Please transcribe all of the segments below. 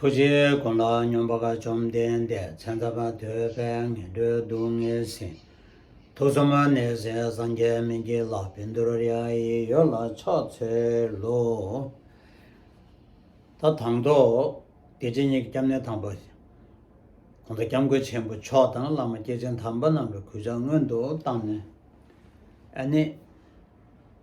ཐུགས་རྗེ་དགོངས་ལ་སྙོམས་པ་དགའ་བཅོམ་ལྡན་འདས་མཚན་ཐ་མ་ཐོས་པས་ངན་འགྲོའི་སྡུག་བསྔལ་ཟིན། ཐུགས་གསུམ་མ་ནས་ཟས་སངས་རྒྱས་མི་འགྱེད་ལ་བིན་དུ་ར་ཡ་ཡི་ཡོ་ལ་ཕྱག་འཚལ་ལོ། ད་དང་ཐོག་དགེ་བྱེད་གཉིས་ཀྱི་སྐྱབས་གནས་དང་པོ། གོང་དུ་སྐྱབས་མགོན་ཆེན་པོ་མཆོག་དང་བླ་མ་སྐྱེས་ཆེན་དམ་པ་རྣམས་ཀྱི་གུས་ཕྱག་སྔོན་དུ་བཏང་ནས། ཨ་ནི།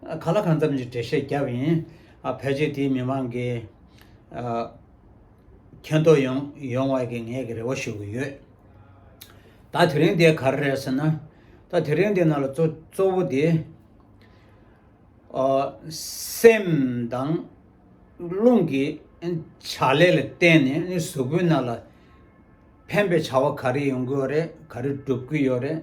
ག་ལ་གང་འཚམས་ཀྱི་འགྲེལ་བཤད་བརྒྱབ་ཡིན། ཕལ་ཆེར་དེའི་མི་མང་གིས་མཁྱེན་རྟོགས་ཡོང་བར་གྱི་ངས་ཀྱི་རེ་བ་ཞུ་གི་ཡོད། ད་དེ་རིང་དེ་ག་རེ་རེད་ཟེར་ན། ད་དེ་རིང་དེ་ནང་ལ་གཙོ་བོ་དེ། སེམས་དང་རླུང་གི་བྱ་ལས་ལ་བརྟེན་ནས་གཟུགས་པོའི་ནང་ལ་ཕན་པའི་བྱ་བ་ག་རེ་ཡོང་གི་ཡོད་རེད་ག་རེ་སྒྲུབ་ཀྱི་ཡོད་རེད།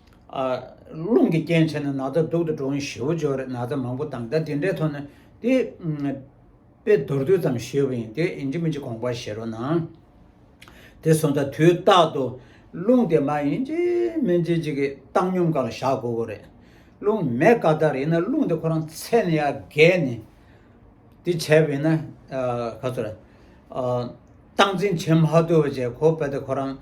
རླུང་གི་རྐྱེན་བྱས་ནས་ན་ཚ་སྡུག་ཏུ་འགྲོ་འི་ཞེ་བོ་འཇོག་རེད་ན་ཚ་མང་པོ་དང་ད་དེ་འདྲའི་ཐོག་ནས་དེ་དཔེ་མདོར་བསྡུས་ཙམ་ཞེས་པ་ཡིན་དེ་ཡིན་གྱི་མིན་གྱི་དགོངས་པ་བཞེས་རོགས་གནང། དེ་སོང་ཙང་དུས་རྟག་ཏུ་རླུང་དེ་མ་ཡིན་གྱི་མིན་གྱི་གཅིག་གི་བཏང་སྙོམས་ག་ལ་བཞག་དགོས་པོ་རེད། རླུང་མེད་ཀ་དག་རེད་ཡིན་ན་རླུང་དེ་ཁོ་རང་ཚད་ནས་ཡ་བརྒལ་ནས་དེ་བྱས་པ་ཡིན་ན་ག་ཚོད་རེད། སྟངས་འཛིན་བྱེད་མ་ཐུབ་པ་བཅས་ཁོ་པ་དེ་ཁོ་རང།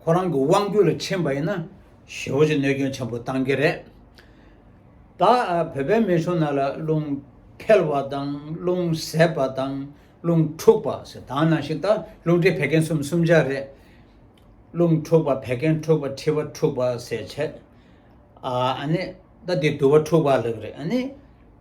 ཁོ་རང་གི་དབང་བསྒྱུར་ལ་ཕྱིན་པ་ཡིན་ན་ཞི་བ་ཆེ་གནོད་སྐྱོན་ཆེན་པོ་གཏང་གི་རེད། ད་བོད་པའི་མི་ཆུང་རྣམས་ལ་རླུང་འཕེལ་བ་དང་རླུང་ཟད་པ་དང་རླུང་འཁྲུགས་པ་ཟེར་དྭང་ནང་བཞིན་ད་རླུང་འཕྲི་བད་ཀན་གསུམ་གསུམ་ཆ་རེད། རླུང་འཁྲུགས་པ་བད་ཀན་འཁྲུགས་པ་འཕྲི་བ་འཁྲུགས་པ་ཟེར་བྱས། ཨ་ཨ་ནི་ད་འདི་དུ་བ་འཁྲུགས་པ་ལགས་རེད་ཨ་ནི།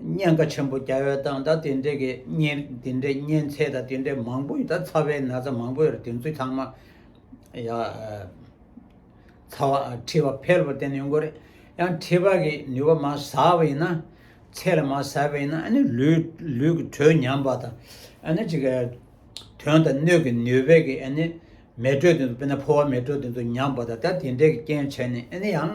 བརྙན་ཁ་ཆེན་པོ་རྒྱ་བལ་སྟངས་དང་དེ་འདྲས་ཀྱི་བརྙན་དེ་འདྲས་བརྙན་ཚད་དང་དེ་འདྲས་མང་པོ་ཡོད་ད་ཚ་བའི་ན་ཚ་མང་པོ་ཡོད་རེད་དེ་ཚོའི་ཚང་མ་ཡ་ཚ་བ་ཁྲི་བ་ཕལ་པོ་བསྟེན་ཡོང་དགོས་རེད་ཡང་ཁྲི་བ་གི་ནུས་པ་མ་ཟ་བ་ཡིན་ན་ཚད་ལ་མ་ཟ་བ་ཡིན་ན་ཨ་ནི་ལུས་ལུས་ཀྱི་དྲོད་ཉམས་པ་དང་ཨ་ནི་ཅིག་དོན་དང་སྣོད་ཀྱི་ནུས་པས་ཀྱི་ཨ་ནི་མེ་དྲོད་དེ་ཚོ་དཔེར་ན་ཕོ་བ་མེ་དྲོད་དེ་ཚོ་ཉམས་པ་དང་ད་དེ་འདྲས་ཀྱི་རྐྱེན་བྱས་ནས་ཨ་ནི་ཡང།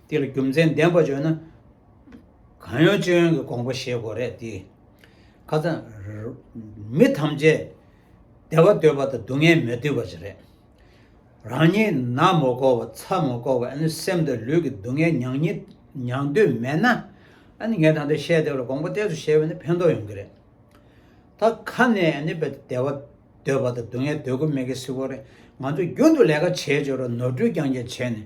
དེ་ལ་རྒྱུ་མཚན་ལྡན་པ་བརྗོད་ན། གང་ཡོན་ཅི་ཡོན་གྱི་དགོངས་པ་བཞེད་དགོས་རེད་དེ། ཁ་སང། མི་ཐམས་ཅད་བདེ་བ་འདོད་པ་དང་སྡུག་བསྔལ་མི་བསྡུ་བ་ཅིག་རེད། རང་ཉིད་ན་མོ་སྐོར་བ་ཚ་མོ་སྐོར་བ་ཨ་ནི་སེམས་དང་ལུས་ཀྱི་སྡུག་བསྔལ་མྱང་ཉིད་མྱང་འདོད་མེད་ན། ཨ་ནི་ངས་ད་ལྟ་བཤད་དེ་ལ་དགོངས་པ་གཏད་སོ་བྱས་པ་ནི་ཕན་ཐོགས་ཡོང་གི་རེད། ད་ཁ་ནས་ཨ་ནི་བདེ་བ་འདོད་པ་དང་སྡུག་བསྔལ་འདོད་དགོས་མེད་ཀི་སི་ཁོ་རེ། ང་ཚོ་རྒྱུན་དུ་ལས་ཀ་བྱས་བྱས་རོགས་ནོར་འཁྲུལ་རྐྱང་རྐྱང་བྱས་ནས།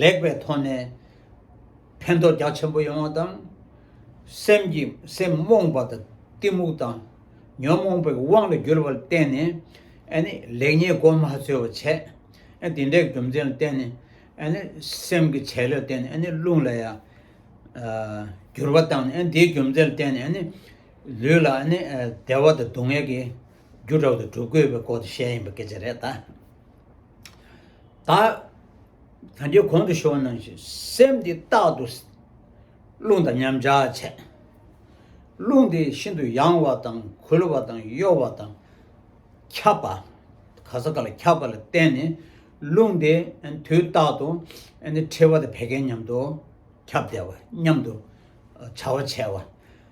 ལེགས་པའི་ཐོག་ནས་ཕན་ཐོགས་རྒྱ་ཆེན་པོ་ཡོང་བ་དང། སེམས་ཀྱི་སེམས་རྨོངས་པ་དང་གཏི་མུག་དང་ཉོན་མོངས་པའི་དབང་དུ་གྱུར་པར་བརྟེན་ནས་ལེགས་ཉེས་སྒོམ་མ་ཚོལ་བར་བྱས། དེ་འདྲའི་རྒྱུ་མཚན་ལ་བརྟེན་ནས་སེམས་ཀྱི་བྱེད་ལས་བརྟེན་ནས་རླུང་ལ་ཡང་འགྱུར་བ་དང་དེའི་རྒྱུ་མཚན་ལ་བརྟེན་ནས་ལུས་ལ་བདེ་བ་དང་སྡུག་བསྔལ་གྱི་རྒྱུ་དྲག་ཏུ་གྲུབ་དགོས་པའི་སྐོར་དུ་བཤད་ཡིན་པ་སྐད་ཆ་རེད་ད། ད་གང་ཅི་གོང་དུ་ཞུ་བ་རྣམས་བཞིན་སེམས་འདི་རྟག་ཏུ་རླུང་དང་མཉམ་བཞག་བྱས། རླུང་དེ་ཤིན་ཏུ་ཡང་བ་དང་གུལ་བ་དང་གཡོ་བ་དང་ཁྱབ་པ། ག་ས་ག་ལ་ཁྱབ་པ་ལ་བརྟེན་ནས་རླུང་དེ་དུས་རྟག་ཏུ་ཕྲེང་བ་དང་བད་ཀན་མཉམ་དུ་ཁྱབ་བདེ་བ་མཉམ་དུ་བྱ་བ་བྱས་བ།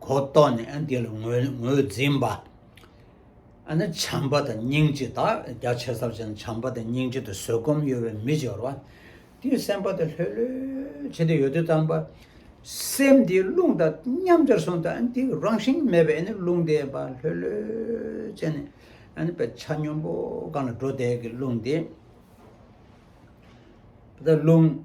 གོ་རྟོགས་ནས་འདི་ལ་ངོས་འཛིན་པ། ཨ་ནི་བྱམས་པ་དང་སྙིང་རྗེ་དག་རྒྱ་ཆེ་ས་བཞིན་བྱམས་པ་དང་སྙིང་རྗེ་དང་བཟོད་སྒོམ་གཡོ་བའི་མི་སྦྱོར་བ། དེའི་སེམས་པ་དེ་ལྷོད་ལྷོད་བྱས་ཏེ་ཡོད་དུ་བཏང་པ། སེམས་དེའི་རླུང་དང་མཉམ་སྦྱར་སོང་སྟེ་དེ་རང་བཞིན་མེད་པའི་རླུང་དེ་བ་ལྷོད་ལྷོད་བྱས་ནས་བའི་ཆ་སྙོམས་པོ་གང་ལ་འགྲོ་དེ་གི་རླུང་དེ། རླུང།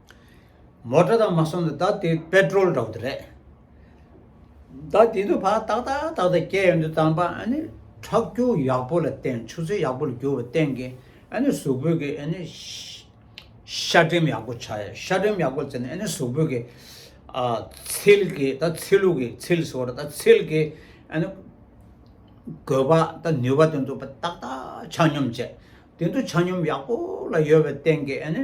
མོ་ཏྲ་དང་མ་སོང་དུ་ད་དེ་པད་ཀྲོལ་འདྲ་བོ་དེ་རེད། ད་དེ་ནུ་བ་ཏག་ཏག་ཏག་ཏག་སྐྱེ་ཡོང་དུ་དམ་པ་ཨ་ནི་ཁྲག་སྐྱུག་ཡག་པོ་ལ་བརྟེན་ཆུ་ཚོད་ཡག་པོ་ལ་རྒྱུ་བ་བརྟེན་གི་ཨ་ནི་གཟུགས་པོད་ཀྱི་ཨ་ནི་ཤ་སྒྲེམ་ཡག་པོ་བྱ་ཡོང་ཤ་སྒྲེམ་ཡག་པོ་བྱས་ནས་ཨ་ནི་གཟུགས་པོད་ཀྱི་ཨ་ཚིལ་གྱི་ད་ཚིལ་ལུག་གི་ཚིལ་ཟོ་ར་ད་ཚིལ་གྱི་ཨ་ནི་གོས་པ་ད་ནུས་པ་དེ་ཚོ་ཏག་ཏག་ཆ་སྙོམས་བྱས་དེ་ཚོ་ཆ་སྙོམས་ཡག་པོ་ལ་ཡོད་པ་བརྟེན་གི་ཨ་ནི་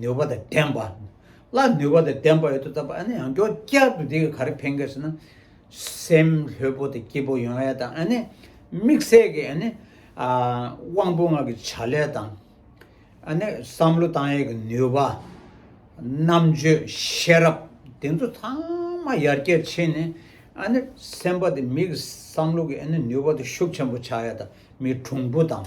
ནུས་པ་དང་ལྡན་པ། ལ་ནུས་པ་དང་ལྡན་པ་ཡོད་དོ་ལྟ་བུ་ཨ་ནི་ཡང་སྐྱོ་བསྐྱར་དུ་དེ་གི་ག་རེ་ཕན་གི་ཟེར་ན། སེམས་ལྷོད་པོ་དང་སྐྱིད་པོ་ཡོང་ཡ་དང་ཨ་ནི་དམིགས་བསལ་གི་ཨ་ནི་དབང་པོ་ལྔ་གི་བྱ་ལས་དང། ཨ་ནི་བསམ་བློ་བཏང་ཡས་གི་ནུས་པ། རྣམ་དཔྱོད་ཤེས་རབ་དེ་ཚོ་ཚང་མ་ཡར་རྒྱས་ཕྱིན་ནས་ཨ་ནི་སེམས་པ་དང་མི་གི་བསམ་བློ་གི་ཨ་ནི་ནུས་པ་དང་ཤུགས་ཆེན་པོ་ཆག་ཡ་དང་མི་གྲུང་པོ་དང།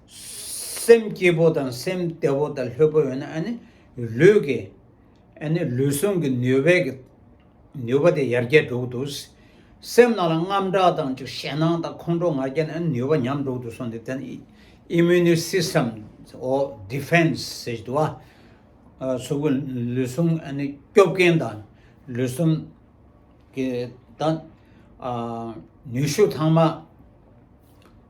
སེམས་སྐྱིད་པོ་དང་སེམས་བདེ་བོ་དང་ལྷོད་པོ་ཡོད་ན་ཨ་ནི་ལུས་ཀྱི་ཨ་ནི་ལུས་ཟུངས་ཀྱི་ནུས་པའི་གི་ནུས་པ་དེ་ཡར་རྒྱས་འགྲོ་གི་འདུག། སེམས་ནང་ལ་རྔམ་སྐྲག་དང་ཅིག་ཞེ་སྣང་དང་ཁོང་ཁྲོ་ང་རྒྱལ་ནི་ཨ་ནི་ནུས་པ་ཉམས་འགྲོ་གི་འདུག་སོང་དེ་དེ་ནི Immune System འོ Defense ཟེར་གྱི་འདུག་ཨ། ཟུག་གི་ལུས་ཟུངས་ཨ་ནི་སྐྱོབ་མཁན་དང་ལུས་ཟུངས་ཀྱི་དང་ནུས་ཤུགས་ཐང་མ།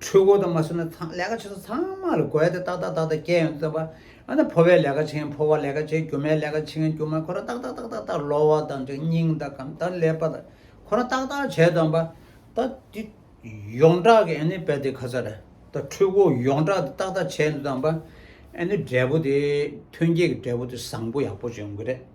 འཕྲུལ་འཁོར་དུ་མ་བསུ་ན་ཚང་ལས་ཀ་བྱེད་ས་ཚང་མ་ལ་གོ་ཡ་དེ་ཏག་ཏག་ཏག་ཏག་སྐྱེལ་ཡོང་བརྩམས་པ་ཨ་ན་ཕོ་བས་ལས་ཀ་བྱེད་ཕོ་བ་ལས་ཀ་བྱེད་རྒྱུ་མས་ལས་ཀ་བྱེད་རྒྱུ་མ་ཁོ་ར་ཏག་ཏག་ཏག་ཏག་ཏག་ལོ་བ་དང་འདྲ་སྙིང་དང་གམ་ད་ལས་པ་དང་ཁོ་ར་ཏག་ཏག་བྱས་དང་པ་ད་དེ་ཡོངས་གྲགས་ཀྱི་ཨ་ནི་པད་དེ་ཁ་ཚར་ར་ད་འཕྲུལ་འཁོར་ཡོངས་གྲགས་དེ་ཏག་ཏག་བྱས་འདུག་དང་པ་ཨ་ནི་འབྲས་བུ་དེ་ཐོན་སྐྱེད་ཀྱི་འབྲས་བུ་དེ་བཟང་པོ་ཡག་པོ་བྱུང་གི་རེད།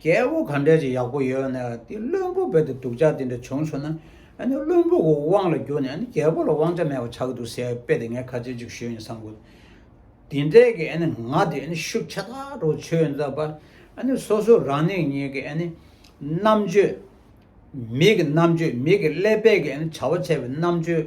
རྒྱལ་པོ་ག་འདྲ་ཅིག་ཡག་པོ་ཡོད་ན་དེ་བློན་པོ་བོད་དུ་སྡུག་ཅག་དེ་འདྲ་བྱུང་ཆོག་ན་ཨ་ནི་བློན་པོ་གི་དབང་ལ་བསྒྱུར་ནས་ཨ་ནི་རྒྱལ་པོ་ལ་དབང་ཆ་མེད་པ་ཆགས་ཀྱི་འདུག་ཟེར་དཔེ་དེ་ངས་ཁ་ཚོན་གཅིག་ཞུས་ནས་བསམ་དགོས་འདུག་དེ་འདྲའི་གི་ཨ་ནི་ང་དེ་ཨ་ནི་ཤུགས་ཆ་ཚ་དྲུག་ཆོད་འདུག་པ་ཨ་ནི་སོ་སོ་རང་ནིང་ཉིང་གི་ཨ་ནི་རྣམ་དཔྱོད། མི་གི་རྣམ་དཔྱོད་མི་གི་ཀླད་པས་གི་ཨ་ནི་བྱ་བ་བྱས་པའི་རྣམ་དཔྱོད་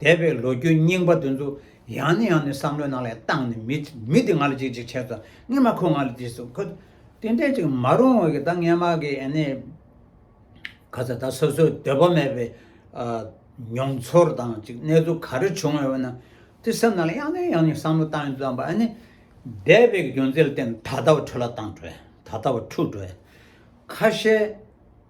འདས་པའི་ལོ་རྒྱུས་རྙིང་པ་དེ་ཚོ་ཡང་ནས་ཡང་ནས་བསམ་བློའི་ནང་ལས་བཏང་ནས་མི་མི་དེ་ང་ལ་ཅིག་ཅིག་བྱས་ཙང་ངས་མ་ཁོ་ང་ལ་དེ་སོང་ཁོ། དེ་འདྲས་ཅིག་མ་རུང་བ་གི་ད་ངས་མ་གི་ཨ་ནེ། ག་ཚ་ད་སོ་སོའི་འདོད་པ་མེད་པའི། མྱོང་ཚོར་དང་ཅིག་གནས་ཚུལ་ག་རེ་བྱུང་ཡོད་པ་ན། དེ་སེམས་ནང་ལ་ཡང་ནས་ཡང་ནས་བསམ་བློ་བཏང་ཙང་པ་ཨ་ནེ། འདས་པའི་རྒྱུ་མཚན་ལ་བརྟེན་ད་ལྟ་བ་འཕྲོད་ལ་བཏང་འཕྲོད་ད་ལྟ་བ་འཁྲུག་འགྲོ། ཁ་ཤས།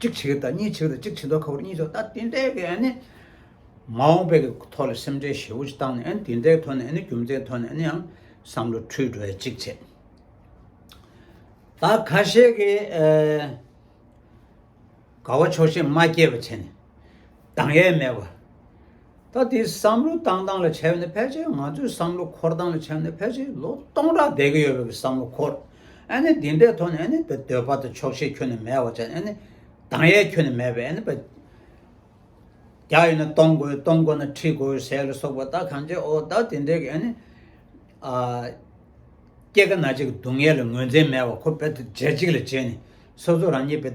གཅིག་བྱེད་ཀྱི་དང་གཉིས་བྱེད་ཀྱི་དང་གཅིག་བྱེད་མདོག་ཁ་བོར་གཉིས་ཆོག་ད་དེ་འདྲའི་གི་ཨ་ནི། མ་འོངས་པའི་གི་ཐོག་ལ་སེམས་ཁྲལ་ཞེ་བོ་ཅིག་བཏང་ནས་ཨ་ནི་དེ་འདྲའི་ཐོག་ནས་ཨ་ནི་རྒྱུ་མཚན་ཐོག་ནས་ཨ་ནི་ཡང་བསམ་བློ་འཁྲུལ་འགྲོ་ཡ་ཅིག་བྱེད། ད་ཁ་ཤས་ཀྱི། དགའ་བ་ཆོག་ཤེས་མ་སྐྱེས་པ་བྱས་ནས། དང་ཡས་མས་བ། ད་དེའི་བསམ་བློ་བཏང་སྟངས་ལ་ཆེ་བ་ནི་ཕལ་ཆེར་ང་ཚོའི་བསམ་བློ་འཁོར་སྟངས་ལ་ཆེ་བ་ནི་ཕལ་ཆེར་ལོ་སྟོང་ཕྲག་འདས་གི་ཡོད་པའི་བསམ་བློ་འཁོར། ཨ་ནི་དེ་འདྲའི་ཐོག་ནས་ཨ་ནི་བའི་འདོད་པ་དང་ཆོག་ཤེས་ཁྱོན་ནས་མེད་བ་ཅན་ཨ་ནི་དང་ཡས་ཁྱོན་ནས་མེད་པའི་ཨ་ནི་བའི། རྒྱ་ཡོད་ན་གཏོང་དགོས་གཏོང་དགོས་ན་ཁྲིད་དགོས་ཟེར་ལ་སོགས་པ་ད་གང་བྱེད་ཨོ་ད་དེ་འདྲའི་གི་ཨ་ནི། ཨ། སྐྱེ་རྒ་ན་འཆི་གི་སྡུག་བསྔལ་ལ་ངོས་འཛིན་མེད་བ་ཁོ་དཔེ་དེབ་འབྱེད་གཅིག་ལ་བྱས་ནས་སོ་སོ་རང་ཉིད་བའི།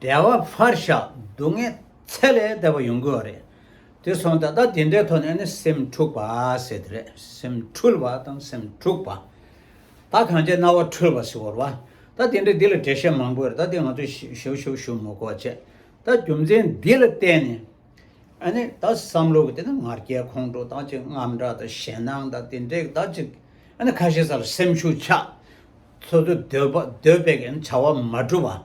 བདེ་བ་ཕར་བཞག་སྡུག་བསྔལ་ཚད་ལས་འདས་པ་ཡོང་གི་བ་རེད། དེ་སོང་ད་ལྟ་དེ་འདྲའི་ཐོག་ནས་ནི་སེམས་འཁྲུག་པ་ཟེར་དེ་རེད་སེམས་འཁྲུལ་བ་དང་སེམས་འཁྲུག་པ། ད་གང་ཅེ་རྣ་བ་འཁྲུལ་བ་ཟེར་བར་བ། ད་དེ་འདྲའི་འདི་ལ་འགྲེལ་བཤད་མང་པོ་ཡོད་རེད་ད་དེ་ང་ཚོས་ཞིབ་ཞུ་ཞུ་མི་དགོས་བྱས། ད་རྒྱུ་མཚན་འདི་ལ་བརྟེན་ནས་ཨ་ནི་ད་བསམ་བློ་གི་དེ་ན་ང་རྒྱལ་ཁོང་ཁྲོ་དང་གཅིག་རྔམ་སྒྲ་དང་ཞེད་སྣང་དང་དེ་འདྲའི་དག་ཅིག་ཨ་ནི་ཁ་ཤས་ས་ལ་སེམས་ཤུགས་ཆག། འཚོལ་དུ་སྡོད་པ་སྡོད་པའི་གན་བྱ་བ་མ་བསྒྲུབ་པ།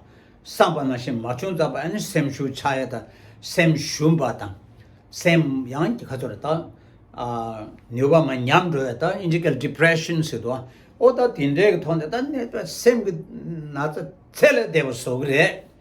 བསམ་པ་ན་ཞིག་མ་བྱུང་ཙམ་པ་ཨ་ནི་སེམས་ཤུགས་ཆག་ཡ་དང་སེམས་ཞུམ་པ་དང། སེམས་ཡང་གི་ཁ་ཚོར་ད་ནུས་པ་མ་ཉམས་འགྲོ་བས་ད་ཨིན་ཇི་གལ Depression ཟེར་དུ་ཨོ་ད་དེ་འདྲའི་གི་ཐོག་ནས་ད་གནས་པའི་སེམས་གི་ན་ཚ་ཚད་ལས་འདས་པ་བཟོ་གི་རེད།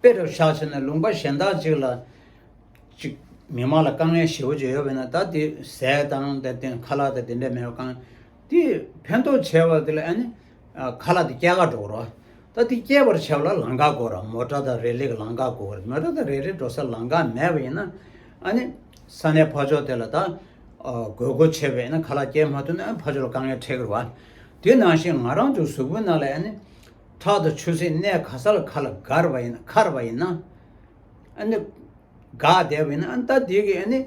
དཔེ་དེར་ཆགས་ཕྱིར་ན་ལུང་པ་གཞན་དག་ཅིག་ལ། གཅིག། མི་དམངས་ལ་དཀའ་ངལ་ཞེ་བོ་ཅིག་ཡོད་པས་ན་ད་དེ་ཟས་དང་དེ་བརྟེན་ཁ་ལག་དང་དེ་འདྲ་མེད་པ་གང། དེས་ཕན་ཐོགས་ཆེ་བ་དེ་ལ་ཨ་ནི། ཁ་ལག་དེ་སྐྱེ་འགག་འགྲོ་བར་རོ། ད་དེ་སྐྱེ་བར་བྱ་བ་ལ་ལང་འགག་གོ་ར་མོ་སྐྲ་དང་རས་ལིག་གི་ལང་འགག་གོ་ར་མོ་སྐྲ་དང་རས་ལིག་འགྲོ་སར་ལང་འགག་མེད་པ་ཡིན་ན། ཨ་ནི། ས་གནས་ཕ་ཕྱོགས་དེ་ལ་ད། དགོས་མཁོ་ཆེ་བས་ན་ཁ་ལག་སྐྱེ་མ་ཐུབ་ན་ཨ་ནི་ཕ་ཕྱོགས་ལ་དཀའ་ངལ་འཕྲད་ཀི་རུ་བ། དེ་ནང་བཞིན་ང་རང་ཚོའི་གཟུགས་པོའི་ནང་ལ་ཨ་ནི། ཁྲག་དང་ཆུ་སེར་གནས་ག་ས་ལ་ཁ་ལ་གར་བ་ཡིན་ན་འཁར་བ་ཡིན་ན། ཨ་ནི། འགག་བསྡད་པ་ཡིན་ན་ཨ་ནི་ད་དེ་གི་ཨ་ནི།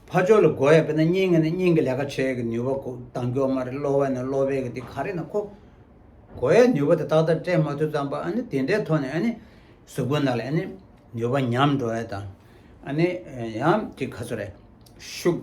ཕ་ཆོས་ལ་བགོ་ཡ་བས་ན་སྙིང་ཨ་ནི་སྙིང་གི་ལས་ཀ་བྱེད་ཀྱི་ནུས་པ་གོ་ལྡང་མགྱོགས་མ་རེད་གློ་བ་ཡིན་ན་གློ་བས་ཀྱི་དེ་ག་རེ་ཡིན་ན་ཁོ། བགོ་ཡའི་ནུས་པ་དེ་ཏག་ཏག་སྤྲད་མ་ཐུབ་ཙམ་པ་ཨ་ནི་དེ་འདྲའི་ཐོག་ནས་ཨ་ནི། གཟུགས་པོ་ན་ལ་ཨ་ནི། ནུས་པ་ཉམས་འགྲོ་ཡ་དང། ཨ་ནི། ཡང་དེ་ག་ཚོད་རེད། ཤུགས།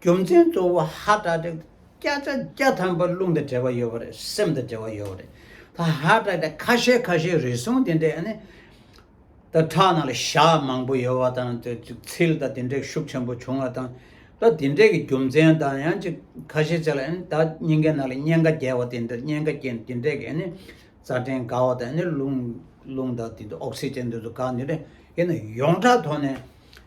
རྒྱུ་མཚན་གཙོ་བོ་ཧ་སྒྲ་དེ་སྐད་ཆ་བརྒྱ་ཐམ་པ་རླུང་དང་འབྲེལ་བ་ཡོད་པ་རེད་སེམས་དང་འབྲེལ་བ་ཡོད་པ་རེད་ད་ཧ་སྒྲ་དེ་ཁ་ཤས་ཁ་ཤས་རེ་ཟུང་དེ་འདྲས་ནི་ད་ཁྲག་ནང་ལ་བཞག་མང་པོ་ཡོད་བ་དང་དེ་ཚིལ་ད་དེ་འདྲས་ཤུགས་ཆེན་པོ་བྱུང་བ་དང་ད་དེ་འདྲས་ཀྱི་རྒྱུ་མཚན་ད་ཡང་ཅིག་ཁ་ཤས་ཚིག་ལ་ནི་ད་སྙིང་གའི་ནང་ལ་སྙན་ག་རྒྱས་བ་དེ་འདྲས་སྙན་ག་རྒྱས་དེ་འདྲས་ཀྱི་ནི་རྩ་ཕྲན་འགག་བ་དང་ནི་རླུང་རླུང་ད་དེ་འདྲས་ཨོག་སི་ཅན་དེ་ཚོ་འགག་དེ་འདྲས་ཀྱི་ནི་ཡོངས་གྲགས་ཐོག་ནས།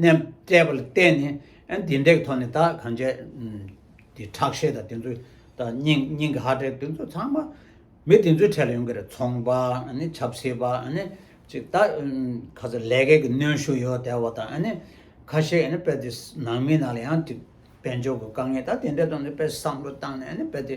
ནས་བཙལ་བ་ལ་བརྟེན་ནས་འདི་འདྲའི་ཐོག་ནས་ད་གང་བྱས་དེ་ཁྲག་ཤེད་དང་དེ་ཚོ་དང་སྙིང་གི་ཧར་བྲལ་དེ་ཚོ་ཚང་མ་མི་དེ་ཚོའི་གྲས་ལ་ཡོང་གི་རེད་ཚོང་པ་ནི་ཆབ་སྲིད་པ་ནི་ཅིག་ད་ཁ་ཟེར་ལས་ཀའི་གནོན་ཤུགས་ཡོད་དེ་བ་དང་ནི་ཁ་ཤས་ནི་དཔེ་དེ་ནང་མི་ནང་ལ་ཡང་དེ་དཔལ་འབྱོར་གྱི་དཀའ་ངལ་ད་དེ་འདྲའི་ཐོག་ནས་དཔེ་བསམ་བློ་བཏང་ནས་ནི་དཔེ་དེ་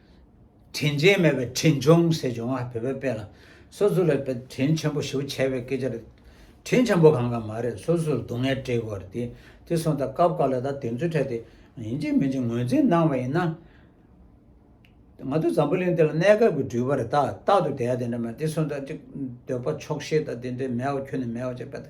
དྲིན་ཅན་མེད་པའི་དྲིན་ཅུང་ཟད་འབྱུང་བ་བོད་པའི་དཔེ་ལ་སོ་སོ་ལ་དྲིན་ཆེན་པོ་ཞུ་བྱས་པའི་སྐད་ཆ་རེད། དྲིན་ཆེན་པོ་གང་གང་མ་རེད་སོ་སོར་སྡུག་བསྔལ་སྤྲད་དགོས་རེད། དེ་སོང་ད་སྐབས་འགའ་ལ་ད་དེ་ཚོའི་གྲས་དེ་ཡིན་གཅིག་མིན་གཅིག་ངོས་འཛིན་གནང་བ་ཡིན་ན། ང་ཚོ་འཛམ་བུ་གླིང་འདི་ལ་གནས་སྐབས་ཀྱི་འགྲུལ་པ་རེད་ད་རྟག་ཏུ་དེ་ཡ་དེ་འདྲ་མ་རེད་དེ་སོང་ད་གཅིག་འདོད་པ་ཆོག་ཤེས་ད་དེ་འདྲའི་མེད་བ་ཁྱོད་ནས་མེད་བ་ཅེས་པ་དེ།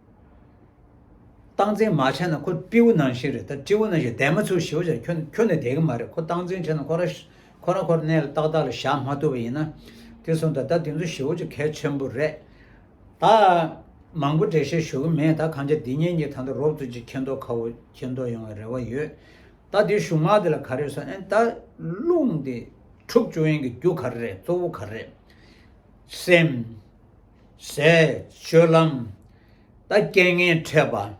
སྟངས་འཛིན་མ་བྱས་ན་ཁོ་སྤྲེའུ་ནང་བཞིན་རེད་ད་སྤྲེའུ་ནང་བཞིན་དད་མ་ཚུར་ཞི་བ་བྱས་ཁྱོད་ཁྱོད་ནི་དད་གི་མ་རེད་ཁོ་སྟངས་འཛིན་བྱས་ན་ཁོ་རང་ཁོ་རང་ཁོ་ར་གནས་ལ་ཏག་ཏག་ལ་བཞག་མ་ཐུབ་པ་ཡིན་ན་དེ་སོང་ད་ད་དེ་ཚོ་ཞི་བ་བྱེད་གལ་ཆེན་པོ་རེད་ད། མང་པོ་འགྲེལ་བཤད་ཞུ་གི་མེད་ད་གང་ཆ་འདི་ཉིན་གྱི་ད་ལྟ་རོབ་ཙོ་གཅིག་ཁེན་ཏོ་ཁ་བོ་ཁེན་ཏོ་ཡོང་བའི་རེ་བ་ཡོད་ད་དེ་གཞུང་དམངས་དེ་ལ་ག་རེ་སོང་ཨེ་ད་རླུང་དེ་འཁྲུག་བཅུག་ཡིན་གྱི་རྒྱུ་ག་རེ་རེད་གཙོ་བོ་ག་རེ་རེད་སེམས། ཟས་སྤྱོད་ལམ། ད་རྐྱེན་ངན་འཕྲད་པ།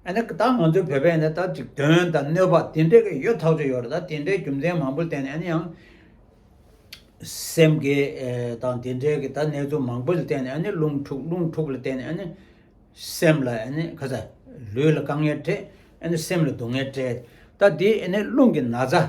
ཨ་ནི་ད་ང་ཚོའི་བོད་པས་ནི་ད་དུས་སྟོན་དང་གནོད་པ་དེ་འདྲས་ཀྱི་ཡོད་ཐག་ཆོད་ཡོད་རེད་ད་དེ་འདྲའི་རྒྱུ་མཚན་མང་པོ་བསྟན་ནས་ཨ་ནི་ཡང། སེམས་འགེལ་དང་དེ་འདྲས་ཀྱི་ད་གནས་ཚུལ་མང་པོ་ལ་བསྟན་ནས་ཨ་ནི་རླུང་འཁྲུགས་རླུང་འཁྲུགས་ལ་བསྟན་ནས་ཨ་ནི། སེམས་ལ་ཨ་ནི་ཁ་ཚ། ལུས་ལ་དཀའ་ངལ་འཕྲད་ཨ་ནི་སེམས་ལ་སྡུག་བསྔལ་འཕྲད་ད་དེ་ཨ་ནི་རླུང་གི་ན་ཚ།